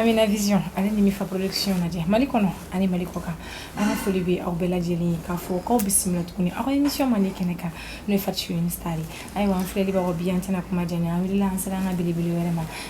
Amina Vision ale ni Mifa Production lajɛ Mali kɔnɔ ani Mali kɔkan an ka foli bɛ aw bɛɛ lajɛlen ye k'a fɔ k'aw bisimila tuguni aw ka émission mandi kɛnɛ kan n'o ye Fatou Chouini Star ye ayiwa an filɛlibagaw bi an tɛna kuma janya an wulila an sera an ka belebele wɛrɛ ma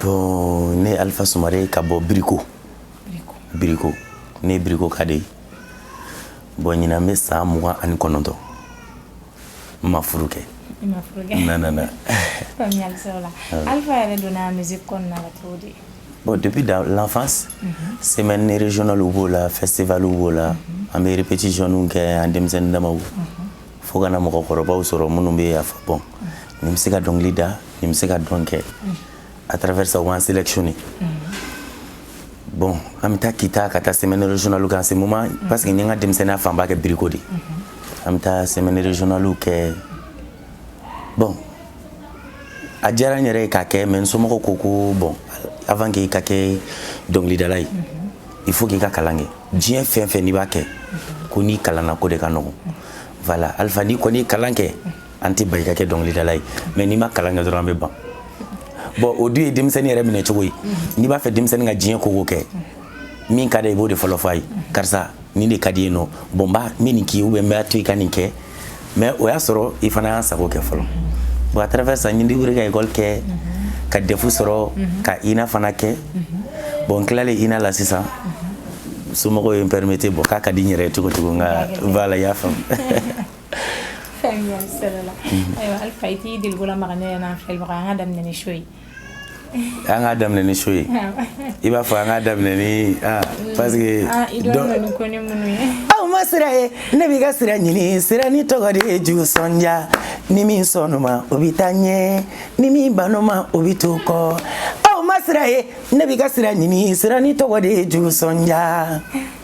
Bon ne Alifa Sumare ka bɔ biriko biriko ne birikoka de ye bɔn ɲinan bɛ san mugan ani kɔnɔntɔn n ma furu kɛ bɔn depuis l'enfance semaine régionale b'o la festival b'o la an bɛ répétitionw kɛ an denmisɛnnin dama fo ka na mɔgɔkɔrɔbaw sɔrɔ minnu b'a fɔ bɔn nin bɛ se ka dɔnkili da nin bɛ se ka dɔn kɛ à travers ça u b'an sélectionné bɔn an bɛ taa kita ka taa semaine régionale kɛ en ce moment parce que n ye n ka denmisɛnninya fanba kɛ biriko de an bɛ taa semaine régionale kɛ bɔn a diyara n yɛrɛ ye k'a kɛ mais n somɔgɔw ko ko bɔn avant que i ka kɛ dɔnkilidala ye il faut k'i ka kalan kɛ diɲɛ fɛn fɛn n'i b'a kɛ ko n'i kalanna ko de ka nɔgɔn voilà alpha n'i kɔni kalan kɛ an t'i bali ka kɛ dɔnkilidala ye mais n'i ma kalan kɛ dɔrɔn an bɛ ban bon o dun ye denmisɛnnin yɛrɛ minɛ cogo ye n'i b'a fɛ denmisɛnnin k'i diyanyeko kɛ min ka d'a ye i b'o de fɔlɔ fɔ a ye karisa nin de ka d'i ye non bon n b'a n bɛ nin k'i ye ou bien n b'a to i ka nin kɛ mais o y'a sɔrɔ i fana y'an sago kɛ fɔlɔ bon à travers ça n ye n débrouiller ka école kɛ ka DEF sɔrɔ ka INA fana kɛ bon n tilalen INA la sisan somɔgɔw ye n permettre bon k'a ka di n yɛrɛ ye cogo cogo n ka voilà y'a faamu faamuya sɔrɔla ayiwa alfa i t'i delikola maga ne yɛrɛ n'an filɛbagaw an k'a daminɛ ni show ye an k'a daminɛ ni show ye i b'a fɔ an k'a daminɛ ni parce que aw ma sira ye ne b'i ka sira ɲini sira ni tɔgɔ de ye jugu sɔnja ni min sɔnn'o ma o bɛ taa ɲɛ ni min bann'o ma o bɛ to kɔ aw ma sira ye ne b'i ka sira ɲini sira ni tɔgɔ de ye jugu sɔnja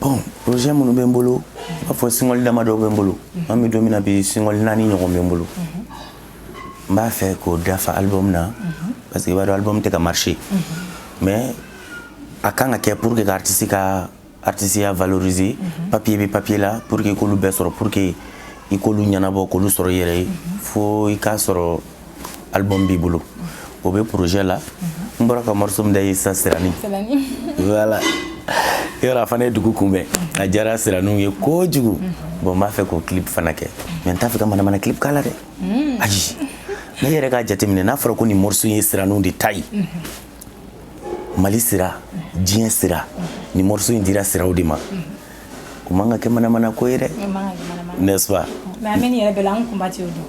bɔn projet minnu bɛ n bolo i b'a fɔ single damadɔw bɛ n bolo mhm. an bɛ don min na bi single naani ɲɔgɔn bɛ n bolo mhm. n b'a fɛ k'o dafa album na mhm. parce que i b'a dɔn album tɛ ka marcher mais a kan ka kɛ pour que ka artisiya valoriser papier bɛ papier la pour que k'olu bɛɛ sɔrɔ pour que i k'olu ɲɛnabɔ k'olu sɔrɔ i yɛrɛ ye fo i k'a sɔrɔ album b'i bolo o bɛ projet la n bɔra ka morceau min da ye sisan sirani voilà yɔrɔ a fana ye dugu kunbɛn a diyara siraniw ye kojugu bon n b'a fɛ k'o clip fana kɛ mais n t'a fɛ ka manamana clip k'a la dɛ hmm. ayi ne yɛrɛ ka jateminɛ n'a fɔra ko nin morceau ye siraniw de ta ye mali sira diɲɛ sira nin morceau in dira siraw de ma o man ka kɛ manamana ko ye dɛ n'est-ce pas mais an bɛ nin yɛrɛ bɛɛ la an kunbatiw dun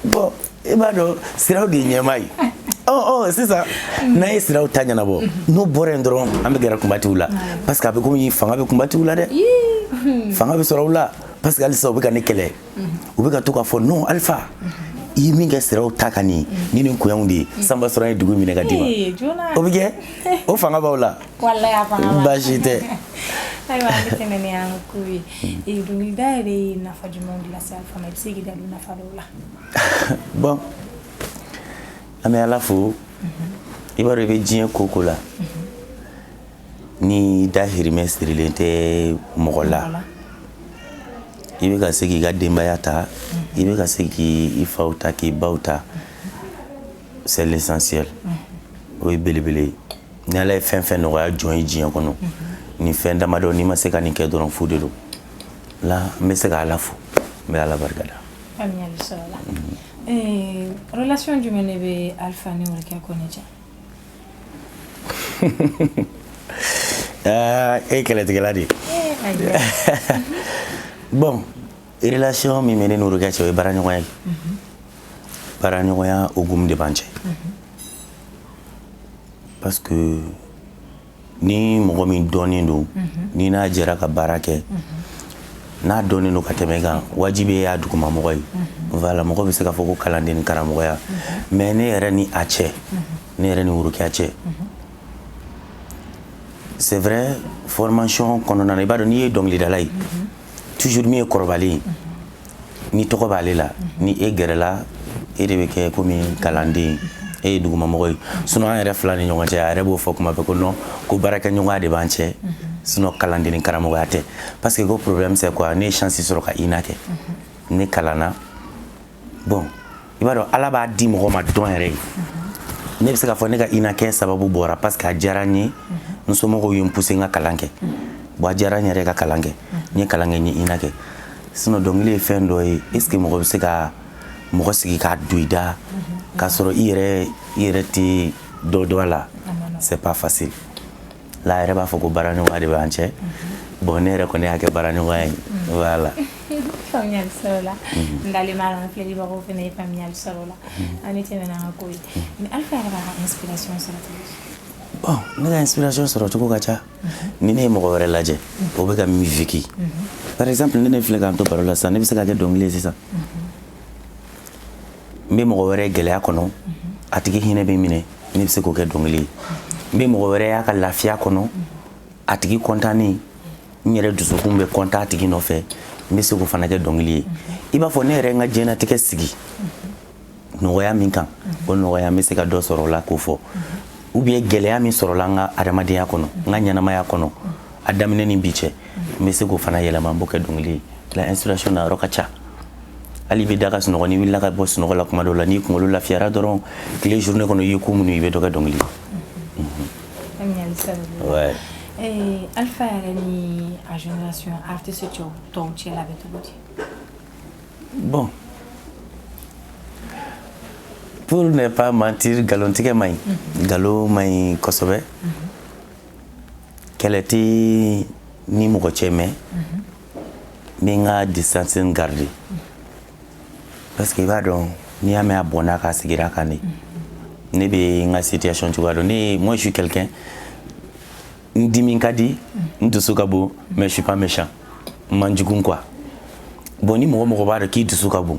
bɔn i b'a dɔn siraw de ye ɲɛmaa ye ɔ sisan n'an ye siraw ta ɲɛnabɔ n'o bɔra yen dɔrɔn an bɛ gɛrɛ kunbatiw la parce que a bɛ komi fanga bɛ kunbatiw la dɛ fanga bɛ sɔrɔ u la parce que halisa u bɛ ka ne kɛlɛ u bɛ ka to k'a fɔ non alifa i ye min kɛ siraw ta ka nin ni nin ko y'anw de ye sanba sɔrɔ ye dugu minɛ ka d'i ma o bɛ kɛ o fanga b'aw la walayi a fanga b'a la baasi tɛ ayiwa an bɛ tɛmɛ ni an ka ko ye Eh, dɔnkilida yɛrɛ ye nafa jumɛn de lase alpha ma i bɛ se k'i da don nafa dɔw la bɔn an bɛ ala fo i b'a dɔn i bɛ diɲɛ ko o ko la n'i dahirimɛ sirilen tɛ mɔgɔ la Wala. i bɛ ka se k'i ka denbaya ta i bɛ ka se k'i faw ta k'i baw ta c'est l'essentiel o ye belebele ye ni ala ye fɛn o fɛn nɔgɔya jɔn ye diɲɛ kɔnɔ nin fɛn damadɔ n'i ma se ka nin kɛ dɔrɔn fu de don la n bɛ se ka ala fo n bɛ ala barika da relation jumɛn de bɛ alpha ni worokiya kɔnɛ cɛ e ye kɛlɛtigɛla de ye bon relation min bɛ ne ni worokiya cɛ o ye baaraɲɔgɔnya ye baaraɲɔgɔnya hukumu de b'an cɛ parce que ni mɔgɔ min dɔnnen don mhm. n'i n'a jɛra ka baara kɛ mhm. n'a dɔnnen don ka tɛmɛ i kan wajibi i y'a dugumamɔgɔ ye mhm. voilà mɔgɔ bɛ se k'a fɔ ko kalanden ni karamɔgɔya mais ne yɛrɛ ni a cɛ ne yɛrɛ ni worokiya cɛ c'est vrai formation kɔnɔna na i b'a dɔn n'i ye dɔnkilidala ye toujours min ye kɔrɔbalen ye ni tɔgɔ b'ale la ni e gɛrɛla e de bɛ kɛ komi kalanden e ye dugumamɔgɔ ye sinon an yɛrɛ fila ni ɲɔgɔn cɛ a yɛrɛ b'o fɔ kuma bɛɛ ko non ko baarakɛɲɔgɔnya de b'an cɛ sinon kalanden ni karamɔgɔya tɛ parce que ko problème c'est quoi ne ye chance sɔrɔ ka ina kɛ ne kalanna bon i b'a dɔn ala b'a di mɔgɔ ma don yɛrɛ ye ne bɛ se k'a fɔ ne ka ina kɛ sababu bɔra parce que a diyara n ye n somɔgɔw ye n pousser n ka kalan kɛ bon a diyara n yɛrɛ ka kalan kɛ n ye kalan kɛ n ye ina kɛ sinon dɔnkili ye fɛn dɔ ye est ce que mɔgɔ bɛ se ka mɔgɔ sigi k'a don i da k'a sɔrɔ i yɛrɛ tɛ dɔ dɔn a la c'est pas facile la yɛrɛ b'a fɔ ko baara ɲɔgɔnya de b'an cɛ bon ne yɛrɛ kɔni y'a kɛ baara ɲɔgɔnya ye voilà faamuyali sɔrɔla n dalen b'a la n filɛlibagaw fana ye faamuyali sɔrɔ la an bɛ tɛmɛ n'an ka ko ye mais Alpha yɛrɛ b'a ka inspiration sɔrɔ cogo di bon ne ka inspiration sɔrɔ cogo ka ca ni ne ye mɔgɔ wɛrɛ lajɛ o bɛ ka min vécu par exemple ne ne filɛ k'an to baro la sisan ne bɛ se k'a kɛ dɔnkili ye sisan n bɛ mɔgɔ wɛrɛ gɛlɛya kɔnɔ a tigi hinɛ bɛ n minɛ ne bɛ se k'o kɛ dɔnkili ye n bɛ mɔgɔ wɛrɛ y'a ka lafiya kɔnɔ a tigi kɔntannen n yɛrɛ dusukun bɛ kɔntan a tigi nɔfɛ n bɛ se k'o fana kɛ dɔnkili ye i b'a fɔ ne yɛrɛ n ka diɲɛnatigɛ sigi nɔgɔya min kan o nɔgɔya n bɛ se ka dɔ sɔrɔ o la k'o fɔ ou bien gɛlɛya min sɔrɔla n ka adamadenya kɔnɔ n ka ɲɛnamaya kɔnɔ a daminɛ ni bi cɛ n bɛ se k'o fana yɛlɛma n b'o kɛ dɔnkili ye la inspiration nayɔrɔ ka ca hali i bɛ da ka sunɔgɔ n'i wulila ka bɔ sunɔgɔ la kuma dɔw la n'i kunkolo lafiyara dɔrɔn tile journée kɔnɔ i ye ko minnu i bɛ dɔ kɛ dɔnkili ye. Eh, Alpha yɛrɛ ni a génération artiste cɛw tɔw cɛ la bɛ cogo di? Bon pour ne pas mentir nkalontigɛ man ɲi nkalon man ɲi kosɛbɛ. kɛlɛ tɛ n ni mɔgɔ cɛ mais n bɛ n ka distance garder parce que i b'a dɔn n'i y'a mɛn a bɔnna k'a sigira kan de ne bɛ n ka situation cogoya dɔn ne ye moi je suis quelqu'un n dimi ka di n dusu ka bon mais je suis pas méchant n man jugu quoi bon ni mɔgɔ mɔgɔ b'a dɔn k'i dusu ka bon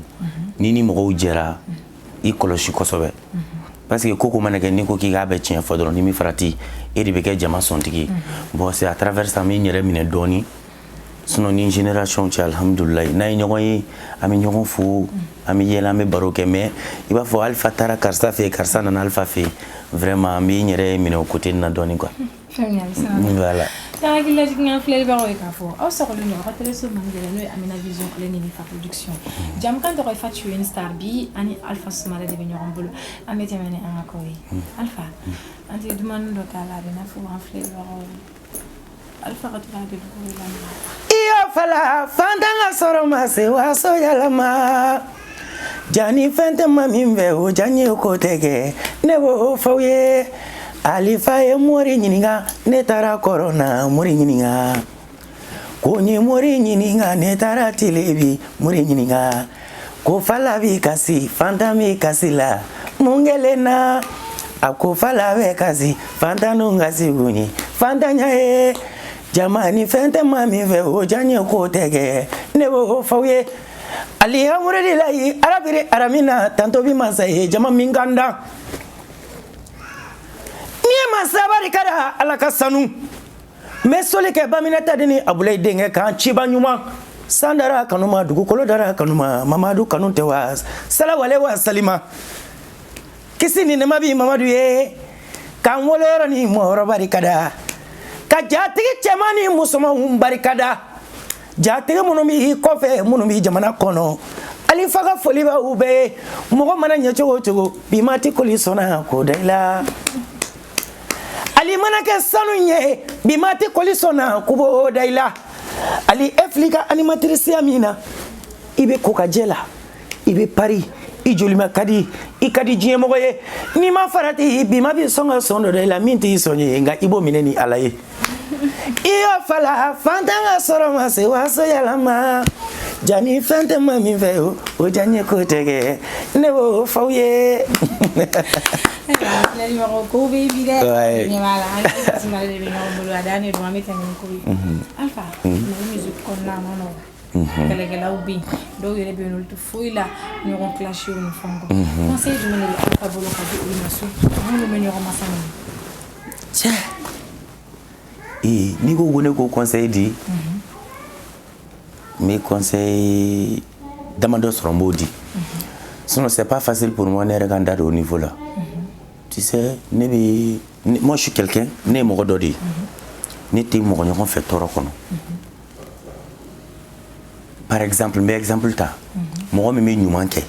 n'i ni mɔgɔw jɛra i kɔlɔsi kosɛbɛ parce que ko o ko mana kɛ n'i ko k'i k'a bɛɛ tiɲɛ fɔ dɔrɔn n'i m'i farati e de bɛ kɛ jama sɔntigi bon c'est à travers ça n bɛ n yɛrɛ minɛ dɔɔni sinon n ni n génération cɛ alhamdulilayi n'an ye ɲɔgɔn ye an bɛ ɲɔgɔn fo an bɛ yɛlɛ an bɛ baro kɛ mais i b'a fɔ Alpha taara karisa fɛ yen karisa nana Alpha fɛ yen vraiment n bɛ n yɛrɛ minɛ o côté nin na dɔɔni quoi Hakili lajigin an filɛbagaw ye k'a fɔ aw sɔgɔlen don aw ka télé so man gɛlɛn n'o ye Amina Vision ale ni Nifa Production jamukan tɔgɔ ye Fatu Star bi ani Alpha Sumare de bɛ ɲɔgɔn bolo an bɛ tɛmɛ ni an ka ko ye Alpha an tɛ dumannin dɔ k'a la a bɛ n'a fɔ an filɛlibagaw ye Alpha ka la iyo fala fantan ka sɔrɔ ma se waso yɛlɛma Jaa ni fɛn tɛ maa min fɛ o diyanye ko tɛ kɛ ne b'o f'aw ye Alpha ye mori de ɲininka ne taara kɔrɔn na mori ɲininka ko n ye mori ɲininka ne taara tilebi mori ɲininka ko fala bɛ kasi fantan bɛ kasi la mun kɛlen na a ko fala bɛ kasi fantan kasi kun ye fantanya ye jama ni fɛn tɛ maa min fɛ o diyanye ko tɛ kɛ ne b'o f'aw ye Alihamdulila layi Rabili alamina tanto bi masa ye jama min kan da n'i ye masa barikada Ala ka sanu n bɛ soli kɛ Baminata de ni Abulayi denkɛ kan ciba ɲuman san dara kanu ma dugukolo dara kanu ma Mamadu kanu tɛ wa salawale wa salima kisi ni nɛɛma bi Mamadu ye k'an wolo yɔrɔ ni mɔyɔrɔ barikada ka jatigi cɛman ni musomanw barikada jatigi minnu bi kɔfɛ minnu bi jamana kɔnɔ Alifa ka foli bɛ u bɛɛ ye mɔgɔ mana ɲɛ cogo o cogo bi ma ti kɔli sɔn na k'o da i la ali mana kɛ sanu ye bi ma ti kɔli sɔn na k'u b'o da i la ali e filɛ i ka animatirisiya min na i bɛ ko ka jɛ la i bɛ pari i jolima ka di i ka di diɲɛmɔgɔ ye n'i ma farati bi ma bɛ sɔn ka sɔn dɔ da i la min t'i sɔn ye nka i b'o minɛ ni ala ye i y'o fala fantan ka sɔrɔ ma se waso yaala ma jani fɛn tɛ ma min fɛ o o diyanyeko tɛ kɛ ne b'o f'aw ye filɛlimɔgɔ ko bɛ bi dɛ Ouais. ɲɛ b'a la an ka tasuma de bɛ ɲɔgɔn bolo a dan de don an bɛ tɛmɛ ni ko ye alpha mali musique kɔnɔna a man nɔgɔn kɛlɛkɛlaw bɛ dɔw yɛrɛ bɛ yen tɛ foyi la ɲɔgɔn clash ni fɛn kɔ conseil jumɛn de bɛ Alpha bolo ka di olu ma so minnu bɛ ɲɔgɔn masa minɛ cɛ ee n'i ko ko ne k'o conseil di n bɛ conseil damadɔ sɔrɔ n b'o di sinon c'est pas facile pour moi ne yɛrɛ ka n da don o niveau la tu sais ne bɛ moi je suis quelqu'un ne ye mɔgɔ dɔ de ye ne tɛ mɔgɔ ɲɔgɔn fɛ tɔɔrɔ kɔnɔ par exemple n bɛ exemple ta mɔgɔ min bɛ ɲuman kɛ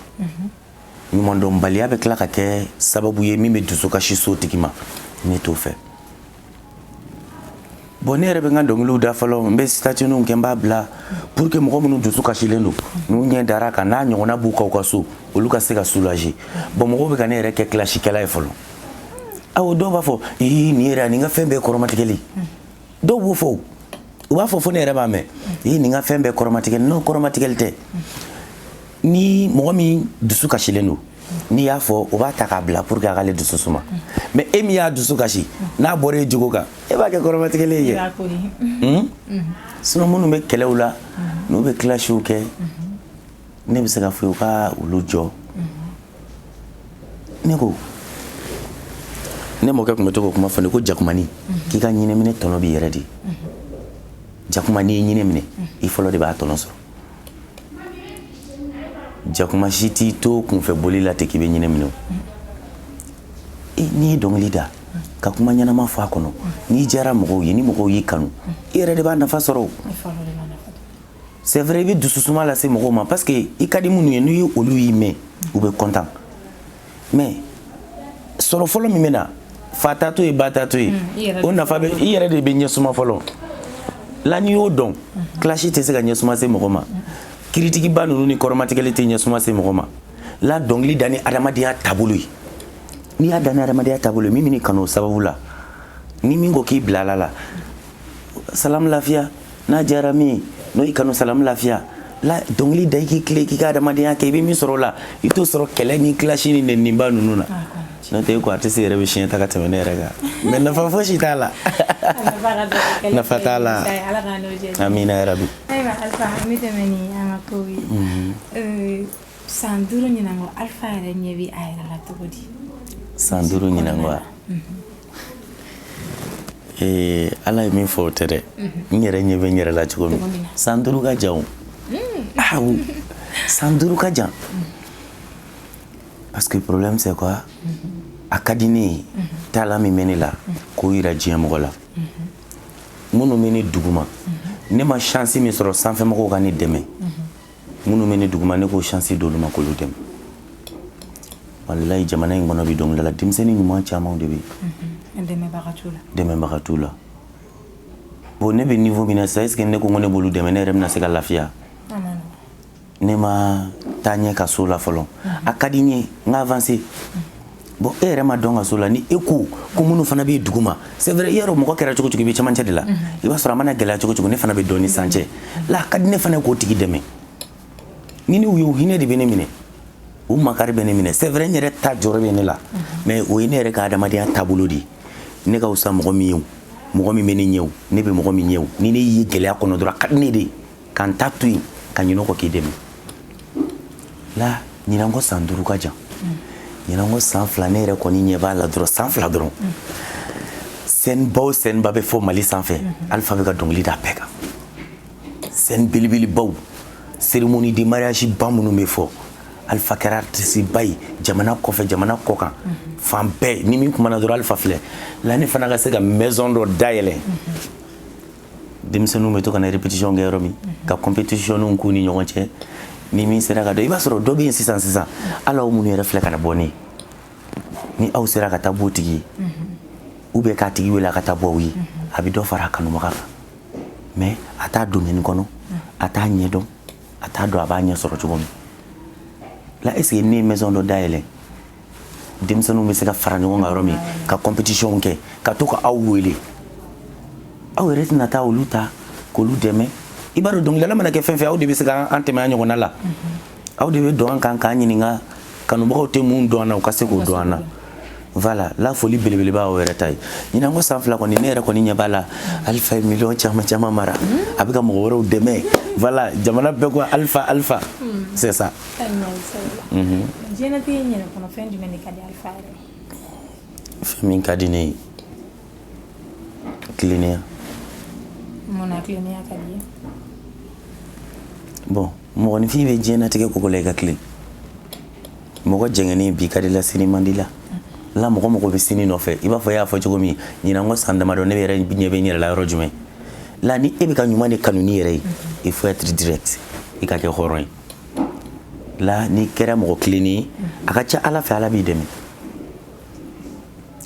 ɲumandɔnbaliya bɛ tila ka kɛ sababu ye min bɛ dusukasi s'o tigi ma ne t'o fɛ bon ne yɛrɛ bɛ n ka dɔnkiliw da fɔlɔ n bɛ statut ninw kɛ n b'a bila pour que mɔgɔ minnu dusu kasilen don n'u ɲɛ dar'a kan n'a ɲɔgɔnna b'u kan u ka so olu ka se ka soulager bon mɔgɔw bɛ ka ne yɛrɛ kɛ clashkɛla ye fɔlɔ awɔ dɔw b'a fɔ ii nin yɛrɛ nin ka fɛn bɛɛ kɔrɔmatigɛli dɔw b'o fɔ u b'a fɔ fo ne yɛrɛ b'a mɛn i nin ka fɛn bɛɛ kɔrɔmatigɛli non kɔrɔmatigɛli tɛ ni mɔgɔ min dusu kasilen don n'i y'a fɔ o b'a ta k'a bila pour que a k'ale dusu suma mais e min y'a dusu kasi n'a bɔra e jogo kan e b'a kɛ kɔrɔmatigɛli ye hmm? sinon minnu bɛ kɛlɛw la n'u bɛ clashw kɛ ne bɛ se k'a fɔ u ka olu jɔ ne ko ne mɔkɛ tun bɛ to k'o kuma fɔ ne ko jakumanin k'i ka ɲinɛminɛ tɔnɔ b'i yɛrɛ de jakuma n'i ye ɲinɛ minɛ i fɔlɔ de b'a tɔnɔ sɔrɔ jakuma si t'i to kunfɛ boli la ten k'i bɛ ɲinɛ minɛ n'i ye dɔnkili da ka kuma ɲɛnama fɔ a kɔnɔ n'i diyara mɔgɔw ye ni mɔgɔw y'i kanu i yɛrɛ de b'a nafa sɔrɔ c'est vrai i bɛ dususuma lase mɔgɔw ma parce que i ka di minnu ye ni olu y'i mɛn u bɛ content mais sɔrɔ fɔlɔ min bɛ na fa ta to yen ba ta to yen o nafa bɛ i yɛrɛ de bɛ ɲɛsuma fɔlɔ la n'i y'o dɔn clash tɛ se ka ɲɛsuma se mɔgɔ ma critique ba ninnu ni kɔrɔmatigɛli tɛ ɲɛsuma se mɔgɔ ma la dɔnkili da ni adamadenya taabolo ye n'i y'a da ni adamadenya taabolo ye min b'i kanu o sababu la ni min ko k'i bila ala la salamu lafiya n'a diyara min n'o y'i kanu salamu lafiya la dɔnkili da i k'i tilen k'i ka adamadenya kɛ i bɛ min sɔrɔ o la i t'o sɔrɔ kɛlɛ ni clash ni nɛniba ninnu na n'o tɛ ko artiste yɛrɛ bɛ siɲɛ ta ka tɛmɛ ne yɛrɛ kan mais nafa fosi t'a la nafa t'a la amina yarabi ayiwa alfa an bɛ tɛmɛ ni an ka kow ye mhm. euh, san duuru ɲinan kɔ alfa yɛrɛ ɲɛ bɛ a yɛrɛ la cogo di san duuru ɲinan kɔ wa Ee ala ye min fɔ o tɛ dɛ n yɛrɛ ɲɛ bɛ n yɛrɛ la cogo min san duuru ka jan san duuru ka jan parce que problème c'est quoi a ka di ne ye talent min bɛ ne la k'o jira diɲɛmɔgɔ la minnu bɛ ne duguma ne ma chance min sɔrɔ sanfɛmɔgɔw ka ne dɛmɛ minnu bɛ ne duguma ne k'o chance d'olu ma k'olu dɛmɛ walayi jamana in kɔnɔ bi dɔnkilidala denmisɛnnin ɲuman caman de bɛ yen dɛmɛbaga t'u la bon ne bɛ niveau min na sisan est ce que ne ko ko ne b'olu dɛmɛ ne yɛrɛ bɛna se ka lafiya ne ma taa ɲɛ ka s'o la fɔlɔ a ka di n ye n ka avancer bon e yɛrɛ ma dɔn ka s'o la ni e ko ko minnu fana bɛ duguma c'est vrai i y'a dɔn mɔgɔ kɛra cogo cogo i bɛ cɛmancɛ de la i b'a sɔrɔ a mana gɛlɛya cogo cogo ne fana bɛ dɔ ni san cɛ la a ka di ne fana k'o tigi dɛmɛ ni ne y'o hinɛ de bɛ ne minɛ o makari bɛ ne minɛ c'est vrai n yɛrɛ ta jɔrɔ bɛ ne la mais o ye ne yɛrɛ ka adamadenya taabolo de ye ne ka fisa mɔgɔ min ye o mɔgɔ min bɛ ne ɲɛ o ne bɛ mɔgɔ min ɲɛ o ni ne y'i ye gɛlɛya kɔnɔ dɔrɔn a ka di ne de ye ka n ta to yen ka ɲinɛ kɔ k'i dɛmɛ la ɲinan kɔ san duuru ka jan ɲinan kɔ san fila ne yɛrɛ kɔni ɲɛ b'a la dɔrɔn san fila dɔrɔn scène ba o scène ba bɛ fɔ mali sanfɛ alfa bɛ ka dɔnkili da bɛɛ kan scène belebelebaw cérémonie de mariage ba minnu bɛ fɔ alfa kɛra artiste ba ye jamana kɔfɛ jamana kɔ kan fan bɛɛ ni min kumana dɔrɔn alfa filɛ la ne fana ka se ka maison dɔ dayɛlɛ denmisɛnninw bɛ to ka na répétition kɛ yɔrɔ min ka compétitionw k'u ni ɲɔgɔn cɛ ni min sera ka dɔ i b'a sɔrɔ dɔ bɛ yen sisan sisan hali aw minnu yɛrɛ filɛ ka na bɔ ne ye ni aw sera ka taa b'o tigi ye ou bien k'a tigi wele a ka taa bɔ aw ye a bɛ dɔ fara a kanubaga kan mais a t'a domaine kɔnɔ a t'a ɲɛdɔn a t'a dɔn a b'a ɲɛ sɔrɔ cogo min la est ce que ne ye maison dɔ dayɛlɛ denmisɛnninw bɛ se ka fara ɲɔgɔn kan yɔrɔ min ka compétition kɛ ka to ka aw wele aw yɛrɛ tɛna taa olu ta k'olu dɛmɛ i b'a dɔn dɔnkilidala mana kɛ fɛn fɛn aw de bɛ se ka an tɛmɛ an ɲɔgɔnna la aw de bɛ dɔn an kan k'an ɲininka kanubagaw tɛ mun dɔn an na u ka se k'o dɔn an na voilà la foli belebeleba aw yɛrɛ ta ye ɲinan kɔ san fila kɔni ne yɛrɛ kɔni ɲɛ b'a la Alpha ye miliyɔn caman caman mara a bɛ ka mɔgɔ wɛrɛw dɛmɛ voilà jamana bɛɛ ko Alpha Alpha c'est ça Mhm. fɛn min ka di ne ye tilennenya bon mɔgɔninfin bɛ diɲɛnatigɛ ko ko la i ka tilen mɔgɔ jɛngɛnen bi ka di la sini man di la la mɔgɔ mɔgɔ bɛ sini nɔfɛ i b'a fɔ e y'a fɔ cogo min ɲinan kɔ san damadɔ ne yɛrɛ ɲɛ bɛ n yɛrɛ la yɔrɔ jumɛn la ni e bɛ ka ɲuman de kanu n'i yɛrɛ ye il faut être direct i ka kɛ hɔrɔn ye la n'i kɛra mɔgɔ tilennen a ka ca ala fɛ ala b'i dɛmɛ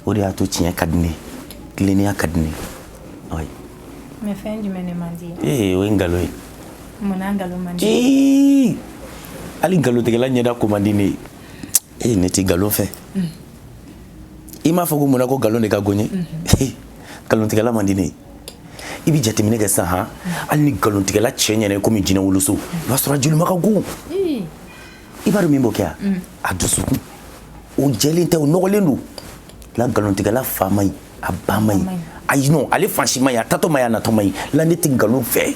o de y'a to tiɲɛ ka di ne tilennenya ka di ne o ye nkalon ye hali nkalontigɛla ɲɛda ko man di ne ye e ne tɛ nkalon fɛ mm. i m'a fɔ ko munna ko nkalon de ka go n ye mm-hmm. nkalontigɛla man di ne ye i bɛ jateminɛ kɛ sisan han hali ni nkalontigɛla cɛ ɲɛna komi jinɛ woloso i b'a sɔrɔ a jolima ka gon i b'a dɔn min b'o kɛ a a dusukun o jɛlen tɛ o nɔgɔlen don la nkalontigɛla fa man ɲi a ba man ɲi ayi non ale fan si man ɲi a taatɔ man ɲi a natɔ man ɲi la ne tɛ nkalon fɛ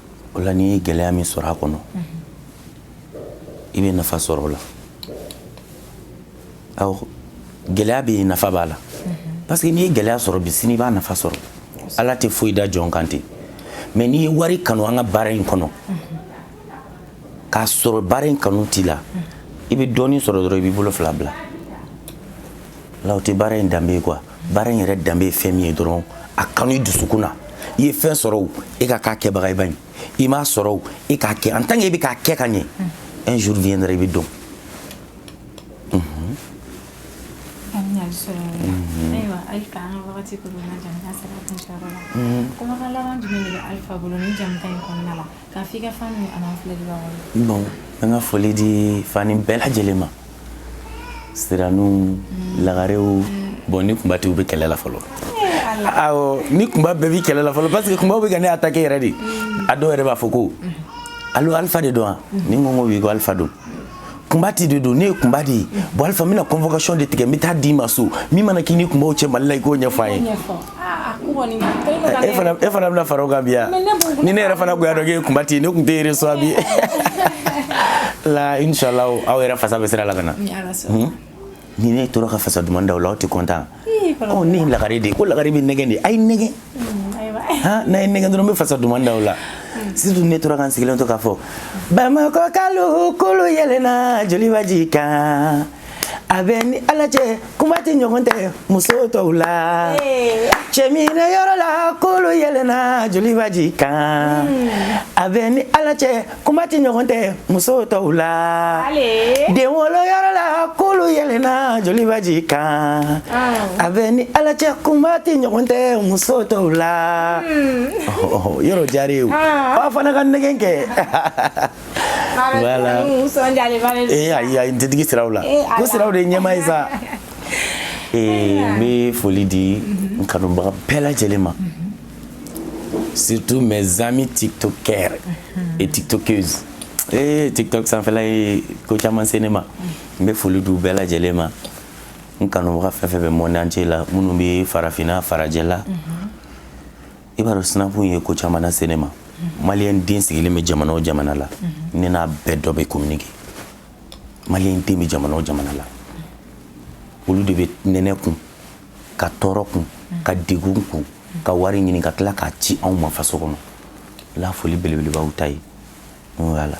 o la n'i ye gɛlɛya min sɔrɔ a kɔnɔ i bɛ nafa sɔrɔ o la awɔ gɛlɛya bɛɛ nafa b'a la parce que n'i ye gɛlɛya sɔrɔ bi sini i b'a nafa sɔrɔ ala tɛ foyi da jɔn kan ten mais n'i ye wari kanu an ka baara in kɔnɔ k'a sɔrɔ baara in kanu t'i la i bɛ dɔɔnin sɔrɔ dɔrɔn i b'i bolo fila bila la o tɛ baara in danbe ye quoi baara in yɛrɛ danbe ye fɛn min ye dɔrɔn a kanu i dusukun na i ye fɛn sɔrɔ o e ka k'a kɛbaga ye baɲi i m'a sɔrɔ o e k'a kɛ en tant que e bɛ k'a kɛ ka ɲɛ un jour viendra i bɛ dɔn ayiwa Alpha an ka wagati koronna jamukan sera a kuncɛyɔrɔ la kumakan laban jumɛn de bɛ Alpha bolo nin jamukan in kɔnɔna la K'a fɔ i ka fan ni an'an filɛbagaw ye. Bon an ka foli di fani bɛɛ lajɛlen ma, siraniw, lagarew, bon ni kunba de bɛ kɛlɛ la fɔlɔ, awɔ ni kunba bɛɛ bɛ kɛlɛ la fɔlɔ parce que kunbaw bɛ ka ne attaquer yɛrɛ de, a dɔw yɛrɛ b'a fɔ ko allo Alpha de don wa? Ni n ko ko oui ko Alpha don, kunbati de don ne ye kunba de ye bon alifa n bɛna convocation de tigɛ n bɛ taa d'i ma so min mana k'i ni kunbaw cɛ mali la i k'o ɲɛfɔ an ye e fana e fana bɛna fara o kan bi ya ni ne yɛrɛ fana tun y'a dɔn k'e ye kunbati ye ne tun tɛ reçoit bi la inshallah aw yɛrɛ fasa bɛ sira la ka na ni ne tora ka fasa duman da o la aw tɛ content ne ye lagare de ye ko lagare bɛ nɛgɛn de a ye nɛgɛn mm, n'a ye nɛgɛn dɔrɔn n bɛ fasa duman da o la mm. surtout ne tora ka n sigilen to k'a fɔ bamakɔkalu kulun yɛlɛnna jolibaji kan a bɛ ni ala cɛ kunbati ɲɔgɔn tɛ muso tɔw la cɛminɛ yɔrɔ la kulun yɛlɛnna jolibaji kan mm. a bɛ ni ala cɛ kunbati ɲɔgɔn tɛ muso tɔw la den wolo yɔrɔ la kulun yɛlɛnna jolibaji kan a bɛ ni ala cɛ kunbati ɲɔgɔn tɛ muso tɔw la yɔrɔ diyara ye o aw fana ka nɛgɛn kɛ voilà ee ayi ayi n tɛ digi siraw la ko siraw de ye ɲɛma ye sa ee n bɛ foli di n kanubaga bɛɛ lajɛlen ma. surtout mes amis tiktokers mhm. et tiktokeuses ee eh, tiktok sanfɛla ye ko caman se ne ma n bɛ foli di u bɛɛ lajɛlen ma n kanubaga fɛn fɛn bɛ monde entier la minnu bɛ farafinna farajɛ la mhm. i b'a dɔn sinapu ye ko caman lase ne ma mhm. maliyɛn den sigilen bɛ jamana o jamana la ne n'a bɛɛ dɔ bɛ communiquer maliyɛn den bɛ jamana o jamana la olu de bɛ nɛnɛ kun ka tɔɔrɔ kun ka degun kun ka wari ɲini ka tila k'a ci anw ma faso kɔnɔ la foli belebeleba u ta ye voilà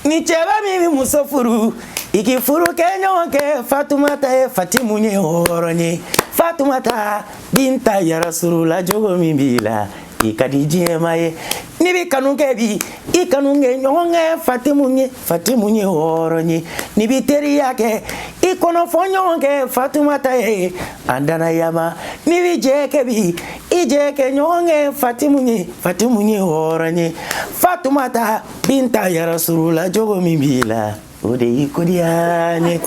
ni cɛba min bɛ muso furu i k'i furu kɛ ɲɔgɔn kɛ fatumata ye fatimu ye hɔrɔn ye fatumata binta yarasurula jogo min b'i la i ka di diɲɛma ye n'i bɛ kanu kɛ bi i kanu kɛ ɲɔgɔn kɛ fatimu ye fatimu ye hɔrɔn ye n'i bɛ teriya kɛ i kɔnɔ fɔ ɲɔgɔn kɛ fatumata ye an danayama n'i bɛ jɛ kɛ bi i jɛ kɛ ɲɔgɔn kɛ fatimu ye fatimu ye hɔrɔn ye fatumata binta yarasurula jogo min b'i la O de y'i ko diya n ye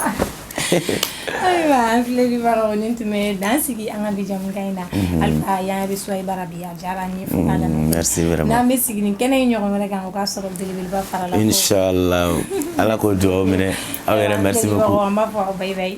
ayiwa an filɛlibagaw nin tun bɛ dan sigi an ka bi jamukan in na alifa y'an reçoit i bara bi a diyara an ye n'an bɛ sigi nin kɛnɛ in ɲɔgɔn wɛrɛ kan o k'a sɔrɔ belebeleba farala ala k'o dugawu minɛ aw yɛrɛ an b'a fɔ aw bye bye